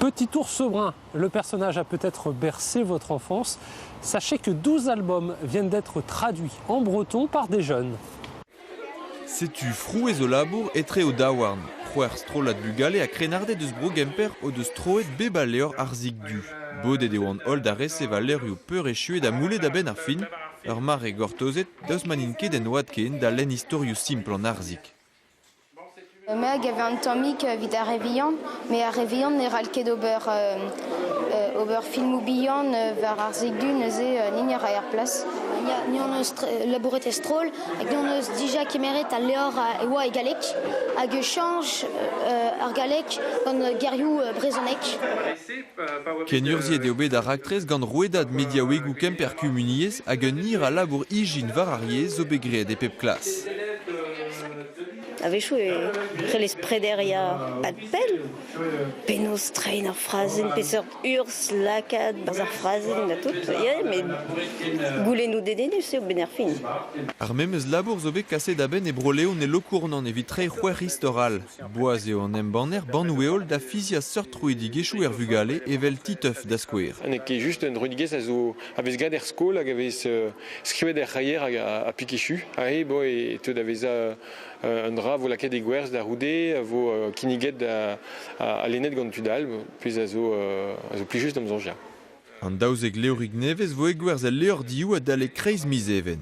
Petit ours brun, le personnage a peut-être bercé votre enfance. Sachez que 12 albums viennent d'être traduits en breton par des jeunes. Setu frouez au labour etre o daouarn. C'hwec'h strollad bugale a krennarded eus Bro-Gemper o deus troet bep a levr ar zik du. Bodet eo an holl da resev al levrioù peurechu eo da moulet a-benn ar fin, ur mare gortozet daoust ma n'int ket en oad ken da lenn istorioù simpl an arzik. Meg a vez un tammig evit ar re vihan, met ar re vihan ne c'hall ket ober ober filmoù bihan war ar segdu neuze ni ne ra er plas. Ni hon eus labouret e stroll hag hon eus dija kemeret al levr e oa e galleg hag e chanj ar galleg gant gerioù brezhonek. Kenurzhiet eo bet ar raktres gant rouedad mediaouegoù Kemper Kumuniezh hag un hir a labour ijin war ar yezh zo bet graet e pep klas. A-wechoù e c'hellez prederiañ adpell. Penaos treiñ ar frazenn, peseurt urzh lakaat barzh ar frazenn ha tout. Ya, met goulennoù dedennus eo benn ar fin. Ar memes labour zo bet kaset a-benn e Bro-Leon e Lokournan evit treiñ c'hwec'h istor all. Boaz eo an embanner bannoù-heol da fiziañ seurt troidigezhioù er vugale, evel Titeuf da skouer. N'eo ket just un droidigezh a vez graet er skol hag a vez Skrivet er c'haier hag ha pikichu. Ahe bo e teu da vezañ un dra vo lakaet e gwerzh da c'houde, a vo kinniget ha lennet gant tud all, pezh a zo, a zo plijus d'am soñj. An daouzek levrig nevez vo egwerzh el levrdioù adalek kreiz miz Even.